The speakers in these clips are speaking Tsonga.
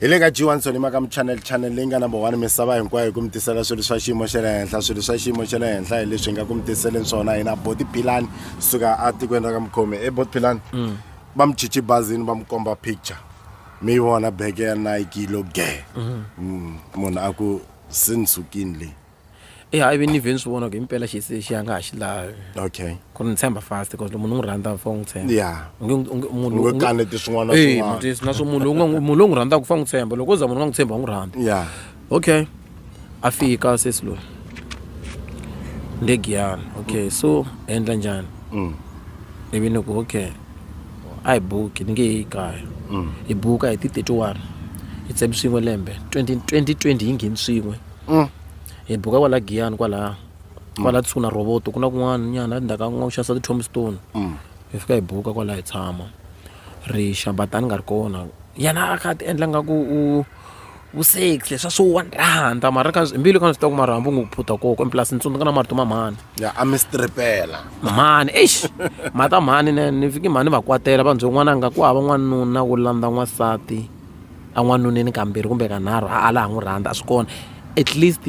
hi le ka g1 sonima ka muchannel channel leyi nga number one misava hinkwayo hi ku mi tisela swilo swa xiyimo xa le henhla swilo swa xiyimo xa le henhla hi leswi hi nga ku mi tiseleni swona hina boti philani suka atikweni ra ka mukhomi e boti philani mm. va mi chichi bazini va mi komba picture mi yi vona beke ya nike yi lo ge mm. mm, munhu a ku se ni sukini leyi I hayi vini ni vhe ni swi vona ku himpela xi se xi a nga ha xi lavi okay ku ri ni tshemba fast because loko munhu u n'wi rhandza u fanele u n'wi tshemba ya u nge u nge munhu u nge kaneti swin'wana na Eh, swin'wana mutwisi na swo munhu lowu nga n'wi- munhu lowu n'wi rhandzaka u fanele n'wi tshemba loko u za munhu u nga n'wi tshembi a n'wi rhandza ya okay a fika sesi loyi nde giyana okay so hi endla njhani Mm. ivi ni ku okay a hi buki ni nge yi kaya hi buka hi ti 31 hi tsemi swin'we lembe 20 2020 yi ngheni swin'we hi buka kwala giyani kwalaya kwala kusuhi na rhovoto ku na kun'wana nyana endzhaku ka ku nga ku xavisa ti-tombstone hi fika hi buka kwala hi tshama ri xa but a ni nga ri kona yena a kha a ti endla nga ku u u sexy leswa swo wa ni rhandza mara ka hi mbilu ka ni swi tiva ku mara hambi u ngo phutha koho kwini plus ni tsundzuka na marito ma mhani ya a mi stripela mhani eish mhani ta mhani ni ni fike mhani ni va kwatela va ni byela n'wananga ku hava n'wanuna wo landza n'wansati en'wanuneni kambirhi kumbe ka nharhu a a la ha n'wi rhandza a swi kona at least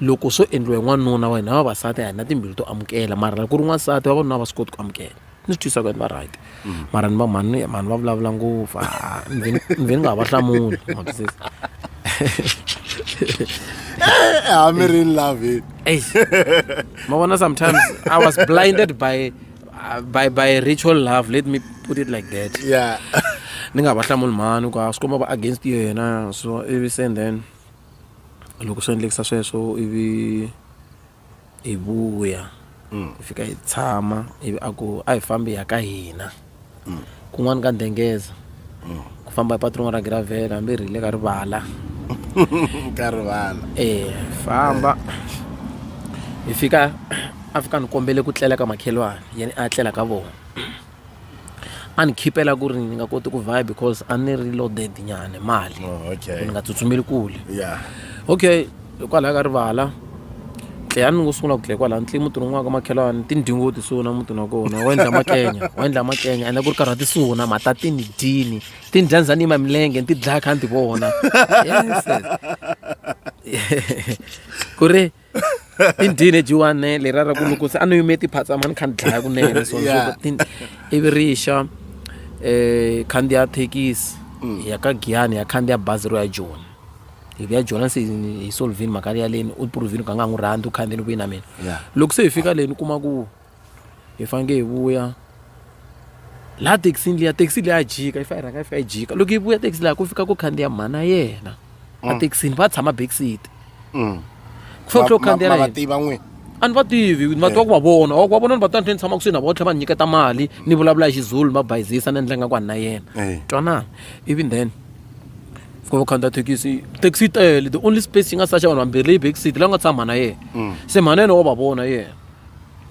loko swo endliwa hi n'wanuna wa hina vavasati a hi na timbilu to amukela mara loko ku ri n'wansati vavanuna a va swi koti ku amukela ni swi twisa ku va right mm. mara ni va mhani mhani va vulavula ngopfu ni ve ni nga ha va hlamuli hamiri in love ma vona sometimes i was blinded by uh, by by ritual love let me put it like that yeah ni nga va hlamuli mhani ku swi komba va against yena so ivi sen then loko swi endlekisa sweswo ivi hi vuya mm. hi fika hi tshama ivi a ku a hi fambi ya ka hina kun'wana ka dengeza ku famba hi patu rin'wana ra giravhela hambi ri rile ka rivala ka rivala e famba hi fika a fika ni kombele ku tlela ka makhelwani yena a tlela ka vona a ni khipela ku ri ni nga koti ku vaya because a ni ri loaded nyana mali oh, ni nga tsutsumeli kule okay hikwalaho ka rivala tleya ni ngo sungula ku dlaya kwalaho ni tli mutini un'wana ka makhelwani tindhingo ti suna mutini wa kona wa endla makenya wa endla makenya ende ku ri karhi ti suna matatini dyini ti ni dyandzani yima milenge ni ti dlaya kha ni ti vona ku ri i dyini jiwane leriya ra ku loko se a ni yime tiphatsama ni kha ni dlaya kunene so ivi ri xa um eh, khandziya thekisi mm. ya ka giyani ya khandziya bazi ro ya joni hi ku ya jola se hi solvini mhaka ya leni u provini ku a nga ha n'wi rhandzi u khandzeni kwihi na mina loko se hi fika leni u kuma ku hi faneke hi vuya laha thekisini liya thekisi leyi ya jika yi fanele rhanga yi fika yi jika loko yi vuya thekisi laha ku fika ku khandziya mhana yena a mm. thekisini va tshama backseat mm. ku fanele tlhe u khandziya na yena a ni va tivi ni va tiva ku va vona wa vona ni va tiva ni tshama kusuhi na vona tlhela va ni nyiketa mali ni vulavula hi xizulu ni va bayizisa ni endla nga ku a ni na yena twanana ivi then ku va u khandziya thekisi thekisi yi tele the only space yi nga saxa vanhu vambirhi leyi back seat la nga tshama mhana yena mm. se mhana yena wa va vona yena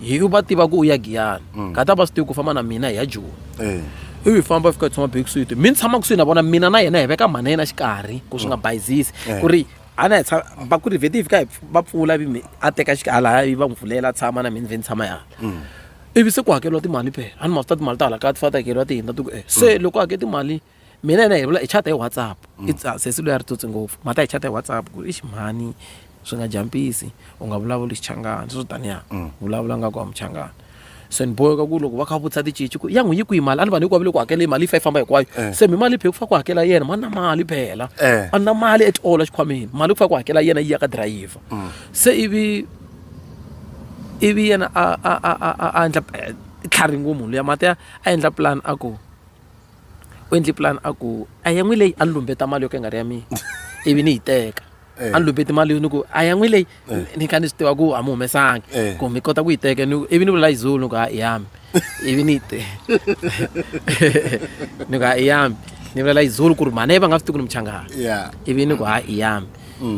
hi va tiva ku u ya giyani mm. ka ta va swi tivi ku famba na mina hi ya joni eh. ivi famba fika tshama back seat mi ni tshama kusuhi na vona mina na yena hi veka mhana yena xikarhi ku swi nga mm. bayizisi eh. ku ri a na hi tshama va ku ri vheti yi fika va pfula vi a teka xikarhi laha yi va n'wi pfulela a tshama na mina vhe ni tshama yana ivi se ku hakeriwa timali phela a ni ma swi ta timali ta hala kaya ti fana ta hakeriwa ti hindza ti ku e se loko hake timali mina yena hi vula hi chata hi whatsapp mm. i ah, sesi loyi a ri tsotsi ngopfu mhaka hi chata hi whatsapp ku i ximhani swi nga jampisi u nga vulavuli xichangana sweswo taniya mm. vulavula nga ku wa muchangana se ni boheka ku loko va kha va vutisa ticici ku ya n'wi yi kwihi mali a ni vanhu hinkwavo le ku hakela mali yi fa yi famba hinkwayo eh. se mi mali phe ku fa ku hakela yena ma na mali phela eh. a na mali at all exikhwameni mali ku fa ku hakela yena yi ya ka dirayiva mm. se ivi ivi yena a a a a a endla eh, tlhari ngumu luya mati a endla plan a ku u endle plan a ku a ya n'wi leyi a ni lumbeta mali yo ka yi nga ri ya mina ivi ni yi teka a ni lumbeti mali ni ku a ya n'wi leyi ni kha ni swi tiva ku a mi humesangi ku mi kota ku yi teka ni ivi ni vula yi zulu ni ku ha i yami ivi ni yi te ni ku ha i yami ni vulela yi zulu ku ri mhana yi va nga swi tivi ku ni muchangani ivi ni ku ha i yami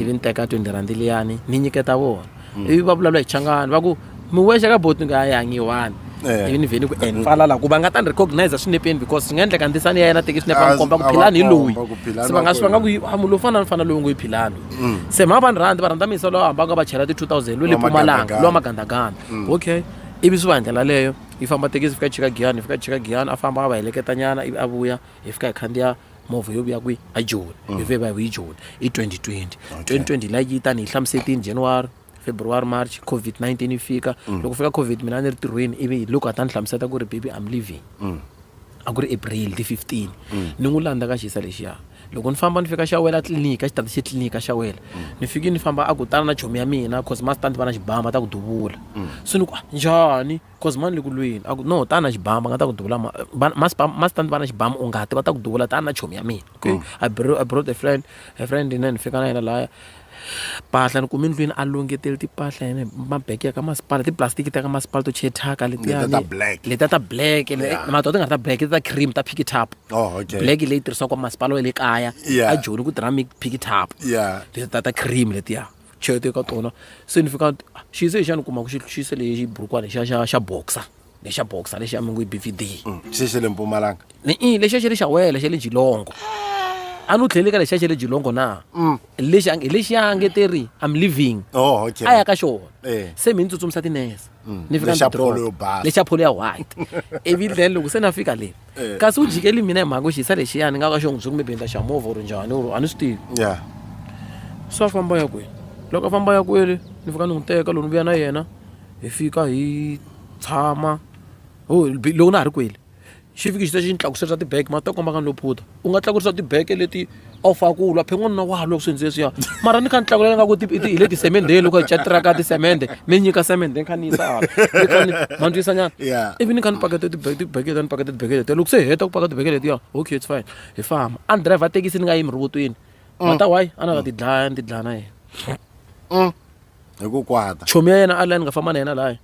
ivi ni teka twenty rhandi liyani ni nyiketa vona ivi va vulavula hi changani va ku mi wexe ka boti nga yangi yi one Eh. ivi ni vhe ni ku and falala ku va nga ta ni recognize swinepeni because swi nga endleka ndisani ya yena teki swinepe va A- ni komba ku a va philani hi loyi komba ku Philani se va nga wa swi va nga ku kwihi. "Ah, munhu lowu fana ni fana lowu ngo yi philani Mm. se mhaka va ni rhandzi va rhandza misa lowu hambaka va chela ti-two thousand lwe le Wa pumalanga magandaganda. lowa magandaganda Mm. okay ivi swi va hi ndlela leyo yi famba tekisi fika chika giyani hi fika chika giyani a famba a va heleketanyana ivi a vuya hi fika hi khandziya movha yo vuya kwihi a joni hi vuye va hi hi joni i 2020 2020 light yi tani hi hlamusetini january february march covid-19 yi fika loko fika covid mina a ni ri tirhweni ivi hi loko a ta ni hlamuseta ku ri baby i'm leaving a ku ri april ti 15 ni n'wi landza ka xisa lexiya loko ni famba ni fika xa wela tliliniki a xi tata xi tliliniki a xa wela ni fike ni famba a ku tana na chomi ya mina cause ma swi ta ni va na xibama ta ku duvula se ni ku "Ah, njhani Cause mhani le ku lweni a ku no tani na xibamu va nga ta ku duvula mastandi va na xibamu u nga ti va ta ku duvula tani na chomi ya mina okay mm. I brought, I brought a friend a friend yena ni fika na yena laya mpahla ni kume ndlwini a lungeteli timpahla yena mabeke ya ka masipala tiplastiki ta ka masipala to chetaka letiyaletiya ta black mato ti nga ri ta black ta cream ta pikitap oh, black leyi tirhisiwaka masipala wa le kaya a joni ku tirha mi pikitap ta ta cream letiya chete ka tona se ni fika xize xa ni kuma ku xi xise lexi burukwana xa xa xa boxer lexa boxer lexa mi ngo i bvd mm, xi xe le mpumalanga ni i lexa xe le xa wela xa le jilongo ah. a ni tlhele ka lexa xe le jilongo na mm. lexi hi lexi ya ngeteri i'm living oh, a ya ka xona eh. se mi ni tsutsumisa tinese mm. ni fika lexa pholo ya white ivi then loko se na fika le Eh. kasi u jikeli mina hi mhaka ku xisa lexiya ni nga ka xo n'wi byi kumbe bendla xa movha or njhani or a ni swi tivi ya so a famba ya kwele loko a famba ya kwele ni fika ni n'wi teka loko ni vuya na yena hi fika hi tshama ho loko na ha ri kwele xi fiki xi ta xi ni tlakusela swa tibege ma swi ta komba ka ni lo phutha u nga tlakurisa tibege leti a wu faka ku lwa phe n'wanuna wa loko swi ndzi leswiya mara ni kha ni tlakulela nga ku hi le tisemendeni loko hi catiraka tisemende mi nyika semende ni kha ni yisa ma ndzi yisanyana ivi ni kha ni pakete tibekete ni pakete tibekete letiya loko se hi heta ku pakete tibekete letiya okay it's fine hi famba a ni driver thekisi ni nga yimi rivotweni mm. mata why a na nga ti dlaya ni ti dlaya na yena mm. hi ku kwata chomi ya yena a layi ni nga famba na yena laya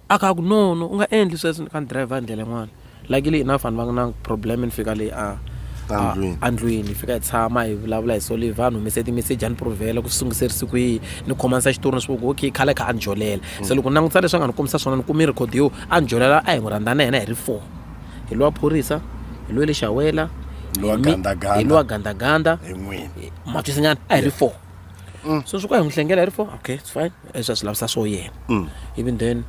a ka ku no no u nga endli sweswo ni ka ni driver hi ndlela yin'wana luckily enough vanhu va nga na problem ni fika leyi a a- Endlwini. endlwini hi fika hi tshama hi vulavula hi soli vanhu humese timeseji a ni provhela ku swi sungiserisi kwihi ni khomanisa xitori ni swi ku okay khale kha a ni jolela se loko ni langutisa leswi a nga ni kombisa swona ni kume record yo a ni jolela a hi n'wi rhandza na yena hi ri four hi lowa phorisa hi lowa le xawela Lowa hi mi- gandaganda. hi lowa gandaganda hi n'wini matwisinyana a hi ri four so swi ku a hi n'wi hlengela hi ri four okay it's fine leswi a swi lavisa swo yena mm. even then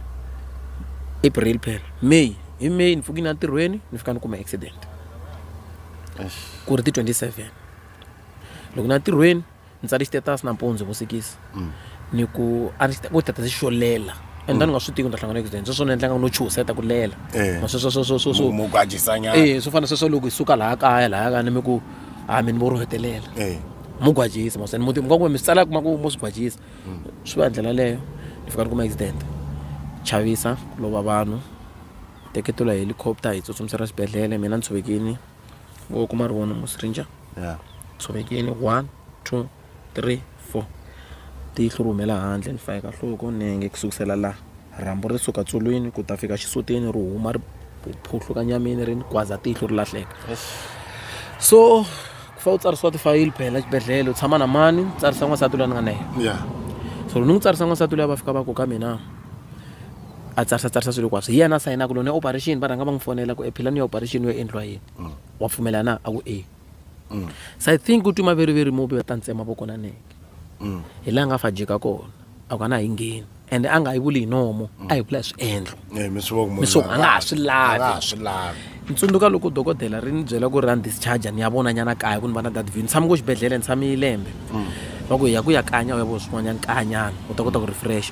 april phela may hi may ni pfukini entirhweni ni fika ni kuma accident ku ri ti 27 loko na ntirhweni ni tsale status nampundzu vusikisi mm. ni ku a ni ku tata xo lela and then mm. nga swi tivi ni ta hlangana accident sweswo ni endlanga no chuseta ku lela eh. sweswoswoswoswomukwajisanya eh, swo fana sweswo loko hi suka laha kaya laha kaya ni mi ku ha mi ni vo ro hetelela eh. mugwajisi mosani muti mi nga ku mi swi tsala kuma ku mo swi gwajisa swi va hi ndlela leyo ni fika ni kuma accident chavisa ku lova vanhu teketelo hi helicopter hi tsutsumisela xibedhlele mina ni tshovekini vo kuma ri vona musringer yeah. tshovekini one two three four tihlo ri humela handle ni fayeka nhloko nenge ku sukusela laha rhambu ri suka tsolweni ku ta fika xisutini ri huma ri phuhluka nyamini ri ni gwaza tihlo ri lahleka so ku fa u tsarisiwa tifayili phela xibedhlele u tshama na mani tsarisa n'wansati loyi ni nga na yena ya so loko ni n'wi tsarisa n'wansati loyi a va fika va ku ka mina a tsarisa tsarisa swilo hinkwaswo hi yena a sayinaka loko ni ya operation va rhanga va n'wi fonela ku ephilani ya operation yo endliwa yini wa pfumela na a ku e so i think u twi maveriveri mo biva ta ntsema vokonaneke hi laha nga fajika kona a ku a na yi ngheni ende a nga yi vuli hi nomo a yi vula hi swiendlo Eh, mi swi vona ku munhu Miswo- loyi a nga ha swi lavi. a nga ha swi lavi ni tsundzuka loko dokodela ri ni byela ku ri ra ni discharge ni ya vona nyana kaya ku ni va na dadvin ni tshame ko xibedhlele ni tshame lembe va ku hi ya ku ya kanya u ya vona swin'wanyana kanyana u ta kota ku refresh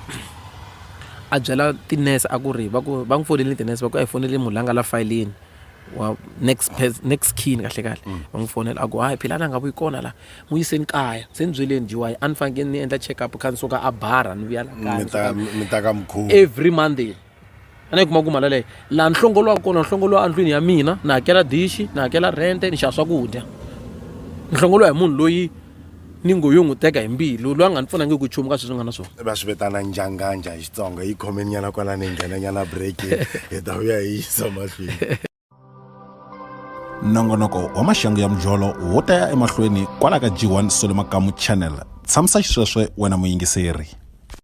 a byela tinese a ku ri va ku va n'wi fonele tinese va ku a hi fonele munhu la nga la fayilini wa next pers- next kin kahle kahle Mm. va n'wi fonela a ku hayi phila la nga vuyi kona la n'wi yiseni kaya se ni byeleni jiwayi a ni fanekele ni endla check up kha ni suka a bara ni vuya la kaya mi ni ta- suka- mi ta ka mukhuva every monday a ni yi kuma ku mali leyo laha ni hlongoliwaka kona ni hlongoliwa endlwini ya mina ni hakela dishi ni hakela rente ni xava swakudya ni hlongoliwa hi munhu loyi ni ngo yo n'wi teka hi mbilu loyi a nga ni pfunangiki nchumu ka sweswi nga na swona va swi vitana njanganja hi xitsonga yi khomeni nyana kwalani hi nghena nyana break hi ta vuya hi yisa mahlweni nongonoko wa maxangu ya mujolo wo ta ya emahlweni kwala ka g1 solo makamu channel tshamisa xisweswe wena muyingiseri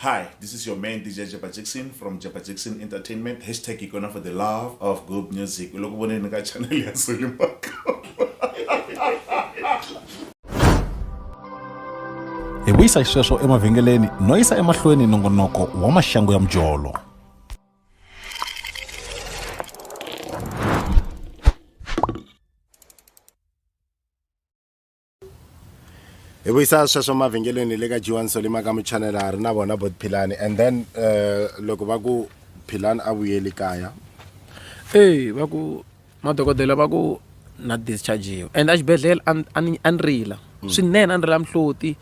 Hi, this is your man DJ Jabba Jackson from Jabba Jackson Entertainment. Hashtag Ikona for the love of good music. Uloko voneni ka channel ya Sulimaka. hi vuyisa xisweswo emavhengeleni no yisa emahlweni nongonoko wa maxangu ya mujolo hi vuyisa sweswo mavhengeleni le ka g1 solima ka muchanela ha ri na vona bot philani and then um loko va ku philani a vuyeli kaya e va ku madokodela va ku na dischargiwa and exibedhlele a ni rila mm. swinene a ni rila mihloti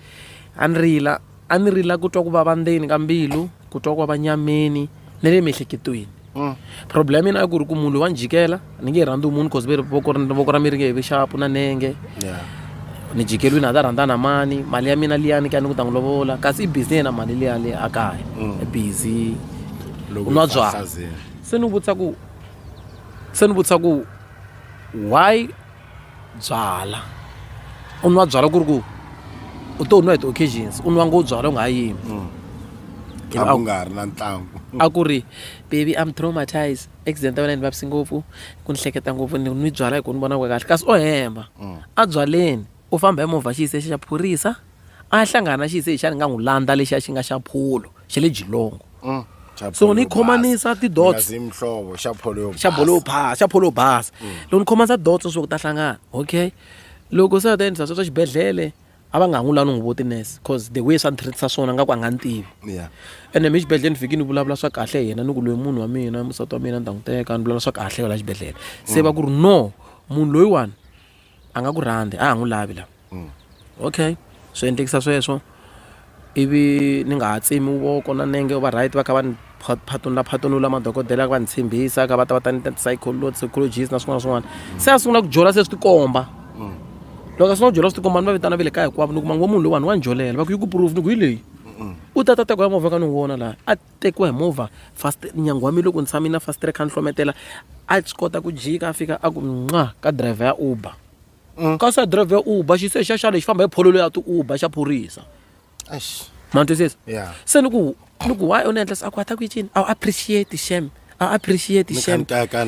a ni rila a ni rila ku twa ku vava ndzeni ka mbilu ku twa ku vava nyameni ni le miehleketweni mm. problem yena a ku ri ku munhu loyi wa ni jikela ni nge rhandzi munhu cause voko ra mi ri nge vi xapu na nenge ni jikeliwini a ta rhandza na mani mali ya mina liyani ka ni ku ta n'wi lovola kasi i busy yena mali liya le a kaya mm. i busy u nwa byala se ni vutisa ku se ni vutisa ku why byalwa u nwa byalwa ku ri ku u to nwa hi ti-occasions u nwa ngo byalwa u nga ha yimi mm. a ku nga ri na ntlangu a ku ri baby I'm traumatized accident ya wena yi ni vavisi ngopfu ku ni hleketa ngopfu ni nwi byalwa hi ku ni vona ku kahle kasi o hemba mm. a byaleni u famba hi movha xiyise xa phorisa a ya hlangana na xise xa ni nga n'wi landza lexiya xi nga xa pholo xa le jilongo so ni khomanisa tidots mhlovo xa pholo yo xa bolo yo phasa xa pholo yo basa loko ni khomanisa dots swo ku ta hlangana okay loko se a ta endlisa swa swa xibedhlele a va nga ha n'wi lavi ni n'wi vo tinurse cause the way swa ni treat-isa swona nga ku a nga ni tivi Yeah. ene mi xibedhlele ni fike ni vulavula swa kahle hi yena ni ku loyi munhu wa mina musati wa mina ni ta n'wi teka ni vulavula swa kahle yo la xibedhlele se va ku ri no munhu loyiwani a nga ku rhandzi a ha n'wi lavi la okay swi endlekisa sweswo ivi ni nga ha tsemi voko na nenge va right va kha va ni phatunula phatunula madokodela va ni tshembisa ka va ta va ta ni ta psychologist na swin'wana na swin'wana se a sungula ku jola se swi tikomba loko a sungula ku jola swi tikomba ni va vitana va le kaya hinkwavo ni kuma ngo munhu loyiwani wa ni jolela va ku yi ku proof ni ku hi leyi u ta ta teka ya movha ka ni wu vona laha a tekiwa hi movha fast nyangu wa mina loko ni tshama na fastire kha ni hlometela a swi kota ku jika a fika a ku nqa ka driver ya uber mm. kasi ya driver ya uber xi se xa xa lexi famba hi phololo ya ti-uber xa phorisa ma twisisa se ni ku ni ku why u ni endlisa a ku a ta ku yi cini a wu appreciate shame a appreciate shame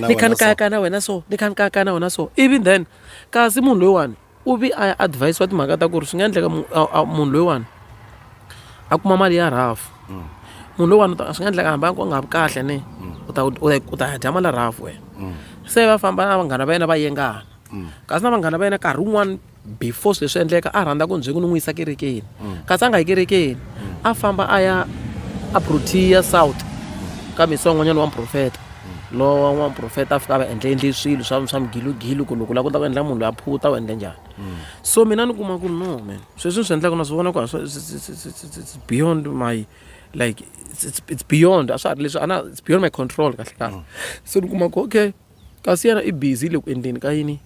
ni kha ni kayakana wena so ni kha ni kayakana wena so even then kasi munhu loyiwani u vi a ya advise-wa timhaka ta ku ri swi nga endleka munhu loyiwani a kuma mali ya rhafu mm. munhu loyiwani swi nga endleka hambi a nga vi kahle ne mm. u ta u ta dya mali ya rhafu wena mm. se va famba na vanghana va yena va yengana kasi na vanghana va yena nkarhi wun'wani before swi leswi endleka a rhandza ku ndzi ku ni n'wi yisa kerekeni kasi a nga yi kerekeni a famba a ya a protea south ka misi wan'wanyana wa muprofeta lowa n'waprofeta a fika a va endla endle swilo swa swa migilugilu ku loko u lava ku ta ku endla munhu loyi a phuta u endle njhani so mina ni kuma ku no man sweswi ni swi endlaka na swi vona ku a swi- it's- it's- it's- it's- it's- it's beyond my like it's- it's it's beyond a swa ha ri leswi a na it's beyond my control kahle kahle so ni kuma ku okay kasi yena i busy le ku endleni ka yini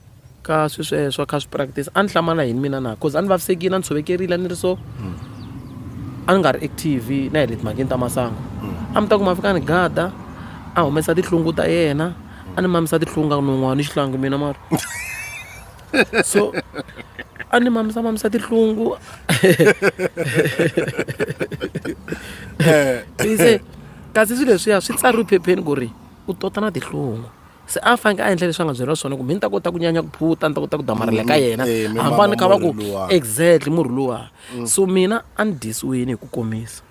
ka swi sweswo kha swi practice a ni hlamala yini mina na cause a ni vavisekile a ni tshovekerile a ni ri so a ni nga ri active na hi le timhakeni ta masangu a mi ta ku ma fika ni gada a humesa tihlungu ta yena a ni mamisa tihlungu a ku non'wana ni xihlangi mina mara so a ni mamisa mamisa tihlungu se kasi swilo leswiya swi tsariwe phepheni ku ri u tota na tihlungu se a faneke a endla leswi a nga byeriwa swona ku mi ni ta kota ku nyanya ku phuta ni ta kota ku damarhela ka yena Eh, mi hambani mama kha va ku murhi luwa. exactly murhi luwa so mina a ni disiwini hi ku komisa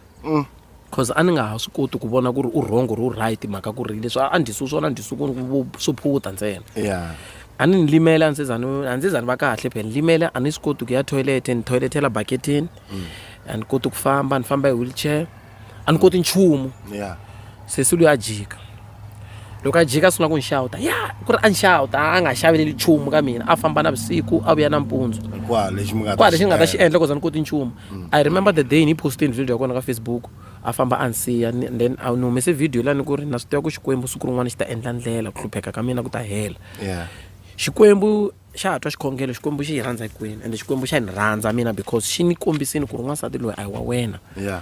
cause a ni nga ha swi koti ku vona ku ri u wrong or u right mhaka ku ri leswi a a ni disiwi swona a ni disiwi ku ri vu- swo phuta ntsena ya a ni ni limele a ni se za ni a ni se za ni va kahle phela ni limele a ni swi koti ku ya toilet ni toiletela baketini a ni koti ku famba ni famba hi wheelchair a ni koti nchumu yeah. sesi loyi a jika loko a jika a sungula ku ni xawuta ya ku ri a ni xawuta a nga xaveleli nchumu ka mina a famba na vusiku a vuya nampundzu kwala lexi mi nga ta xi endla koza ni koti nchumu mm. i remember the day ni postini video ya kona ka facebook a famba a ni siya then a ni humese video lani ku ri na swi tiva ku xikwembu siku rin'wana xi ta endla ndlela ku hlupheka ka mina ku ta hela xikwembu xa ha twa xikhongelo xikwembu xi hi rhandza hinkwenu ende xikwembu xa ni rhandza mina because xi ni kombisini ku ri n'wansati loyi a hi wa wena yeah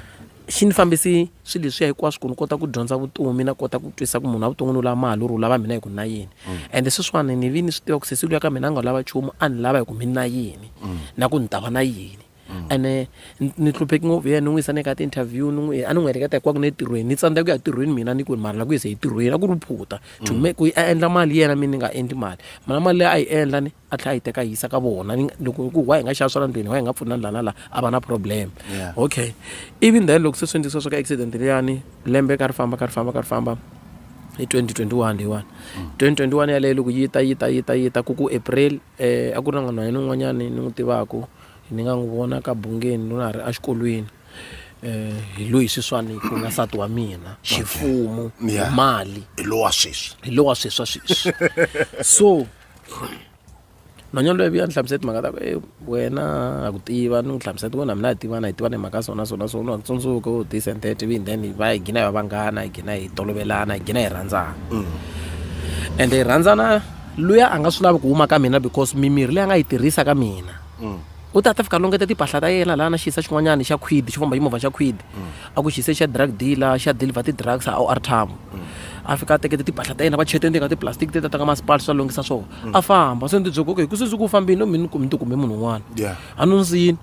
xi ni fambisi swilo leswiya hinkwaswo ku ni kota ku dyondza vutomi na kota ku twisisa ku munhu wa vuton'wini u lava mali u ri u lava mina hi ku na yini mm. ende sweswiwani ni vi ni swi tiva ku sesi luya ka mina a nga lava nchumu a ni lava hi ku mi na yini mm. na ku ni ta va na yini ene ni- ni hlupheki ngopfu hi yena ni n'wi yisa ni ka ti-interview ni n'wi a ni n'wi heleketa hikwako ni etirhweni ni tsandzeka ku ya tirhweni mina ni ku ni mali la ku yisa etirhweni a ku ri phutha to make ku a endla mali yena mina ni nga endli mali mara mali leyi a yi endla ni a tlhela a yi teka a yi yisa ka vona Ni nga- loko hi ku wa hi nga xava swa la ndlwini wa hi nga pfuna la na la a va na problem Yeah. okay even then loko se swi endlisiwa swa ka accident liyani lembe ka ri famba ka ri famba ka ri famba hi 2021 leyiwani 2021 yaleyo loko yi ta yi ta yi ta yi ta ku ku april um a ku ri na n'wanhwanyana un'wanyani ni n'wi tivaka Ni nga n'wi vona ka bungeni loko na ha ri exikolweni hi loyi sweswiwani ku nga nsati wa mina ximfumo Yeah. mali hi lowa sweswi hi lowa sweswa sweswi so nhwanyana loyi vuya ni hlamusela timhaka ta ku e wena ha ku tiva ni n'wi hlamusela ti wena mina hi tivana hi tivana hi mhaka so na so na so ni wa ku tsundzuka u this and that ivi then hi va hi gina hi va vanghana hi gina hi tolovelana hi gina hi rhandzana ende hi rhandzana luya a nga swi lavi ku huma ka mina because mimirhi leyi a nga yi tirhisa ka mina mm. u ta ta fika longeta timpahla ta yena laha na xiyisa xin'wanyana xa quid xi famba ximovha xa quid mm. a ku xiyise xa drug dealer xa deliver ti-drugs a o r tam mm. a fika a tekete timpahla ta yena va chete ndzeni ka tiplastic ti tataka masipali swa lunghisa swona a famba se ndzi byi koke hi ku se ndzi ku fambile no mina ni ti kume munhu un'wana a no ndzini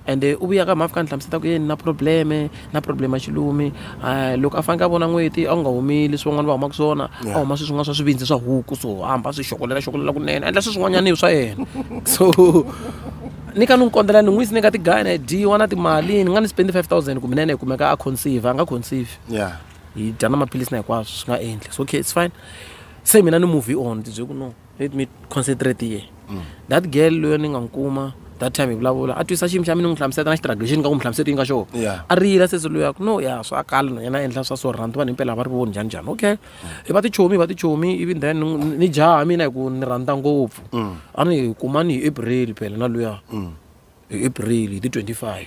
Ende u vuya ka mhani a fika a ni hlamuseta ku ye ni na probleme ni na probleme ya xilumi um loko a faneke a vona n'weti a ku nga humeli swi van'wana va humaka swona a huma sweswi nga swa swivindzi swa huku so hamba swi xokolela xokolela kunene a endla swi swin'wanyana hi swa yena so ni ka ni n'wi kondzela ni n'wi yisi ni ka ti-guy na dyiwa na timali ni nga ni spendi five thousand kumbe na yena yi kumeka a conceive a nga conceive ya hi dya na maphilisi na hinkwaswo swi nga endli so okay it's fine se mina ni movie on ndzi bye ku no let me concentrate here mm. that girl loyo ni nga n'wi kuma that time hi vulavula a twisa xiyimo xa mina ni n'wi hlamuseta na xitiragio xi ni nga ku n'wi hlamuseti yi nga xona yeah. a riyila sesi loyaku no ya swa kala na yena endla swa so rhandi vanhu himpela va ri voni njhani njhani okay mm. hi va tichomi hi va tichomi ivi then ni jaha mina hi ku ni rhandza ngopfu mm. a ni hi kuma ni hi april phela na luya mm. hi april hi ti 25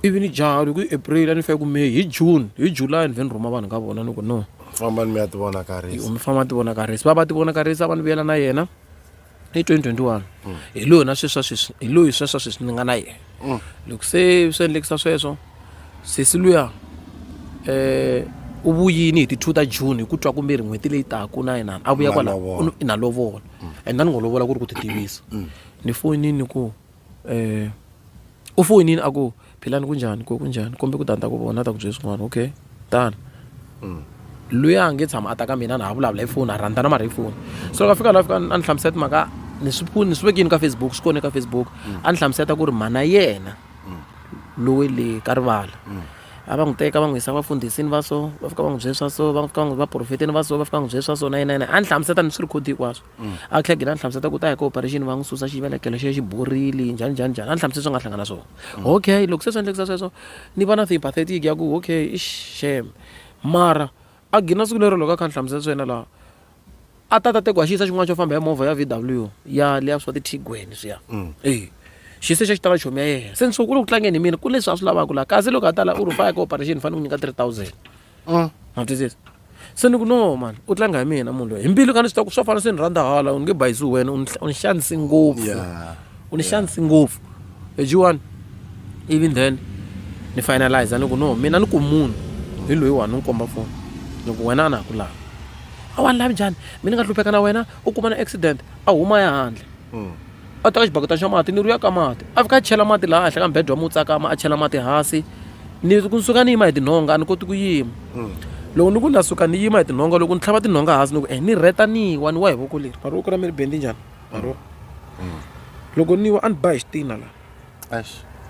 ivi ni jaha loko i april a ni fike ku may hi june hi july ni vhe ni rhuma vanhu ka vona ni ku no fambani mi ya ti vonakarisa mi famba ti vonakarisa va va ti vonakarisa va ni vuyela na yena hi 2021 hi loyi na sweswa sweswi hi loyi sweswa sweswi ni nga na yena Mm. loko se swi endlekisa sweswo sesi luya eh u vuyini hi ti 2 ta june hi ku twa kumbe ri n'hweti leyi taka na yinani a vuya Na kwala lovola. u ni- na lovola and a ni ngo lovola ku ri ku ti tivisa Ni foyinile ni ku u foyinile a ku Philani ku njhani ku ku njhani kombe ku ta ni ta ku vona a ta ku byela swin'wana okay tani loyi a nge tshama a ta ka mina na ha vulavula hi foni a rhandza na mara hi foni so ka fika la fika a ni hlamusela timhaka ni swi ni swi vekini ka facebook swi kone ka facebook a ni hlamusela ku ri mhana yena lowe le ka rivala a va n'wi teka va n'wi yisa vafundhisini va so va fika va n'wi byela swa so va fika va n'wi va profeteni va so va fika va n'wi byela swa so na yena yena a ni hlamusela ni swi record hinkwaswo mm. a tlhela gina a hlamusela ta ku ta hi ka operation va n'wi susa xivelekelo xi xi borile njhani njhani njhani a ni hlamusela swi nga hlangana swona mm. okay loko se swi endlekisa sweswo ni va na sympathetic ya ku okay i shame mara a gina siku lero loko a kha ni hlamusela swi yena laha a ta ta teku a xi yisa xin'wana xo famba ya movha ya v w ya leya swa titigweni swiya mm. e xi se xa xi tala chomi ya yena se ni swo ku le ku tlangeni hi mina ku leswi a swi lavaka laha kasi loko a tala u ri faya ka operation ni fanele ku nyika three thousand mm. ma twisisa se ni ku no mani u tlanga hi mina munhu loyi hi mbilu ka ni swi ta ku swa fana se ni rhandza hala u nge bayisi wena u ni xanisi ngopfu u ni xanisi ngopfu ejiwani even then ni finalize ni ku no mina ni ku munhu hi loyi wani ni komba foni ni ku wena a na ha ku lava a wa ni lavi njhani mi ni nga hlupheka na wena u kuma na accident a huma ya handle mm. a teka xibaketani xa mati ni ri ya ka mati a fika a chela mati laha henhla ka mubedwa mo tsakama a chela mati hansi ni ku ni suka ni yima hi tinhonga a ni koti ku yima mm. loko ni ku na suka ni yima hi tinhonga loko ni tlhava tinhonga hansi ni ku eh ni rheta ni wa ni wa hi voko leri mari voko ra mi ri bendi njhani maro mm. loko ni wa a ni ba hi xitina la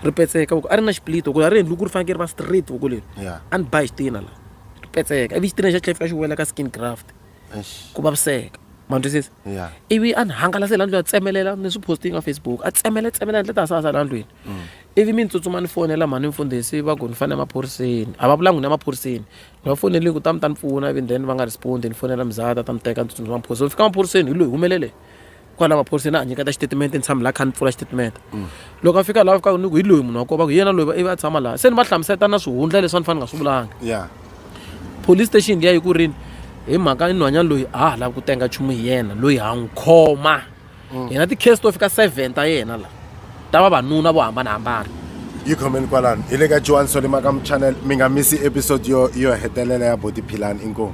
ri petseka voko a ri na xiplito voko a ri endli ku ri fanekele ri va straight voko leri a ni ba hi xitina la ri petseka ivi xitina xa tlhela fika xi wela ka skin graft ku vaviseka ma twisisa yeah. ivi a ni hangalase la ndlwini a tsemelela ni swi posting ka facebook a tsemele tsemela ndle ta sasa la ndlwini mm. ivi mi ni tsutsuma ni fonela mhani mfundhisi va ku ni fanele emaphoriseni a va vulangi ni emaphoriseni ni va fonelini ku ta mi ta ni pfuna ivi then va nga respondi ni fonela mizata ta mi teka ni tsutsumisa maphoriseni ni fika maphoriseni hi loyi humelele kwala maphoriseni a nyiketa xitatimende ni tshami laha kha ni pfula xitatimende mm. loko a fika laha fika ni ku hi loyi munhu wa kova ku hi yena loyi ivi a tshama laha se ni va hlamuseta na swihundla leswi a ni fanele nga swi vulanga police station liya yi ku rini hi mhaka inhwanyana loyi a ha lavi ku tenga nchumu hi yena loyi ha n'wi khoma hina mm. ti-case to fika seven ta yena la ta vavanuna vo hambanahambana yi khomeni kwalano hi le ka joan solima ka muchannel mi nga misi episode yo yo hetelela ya body philani inkomu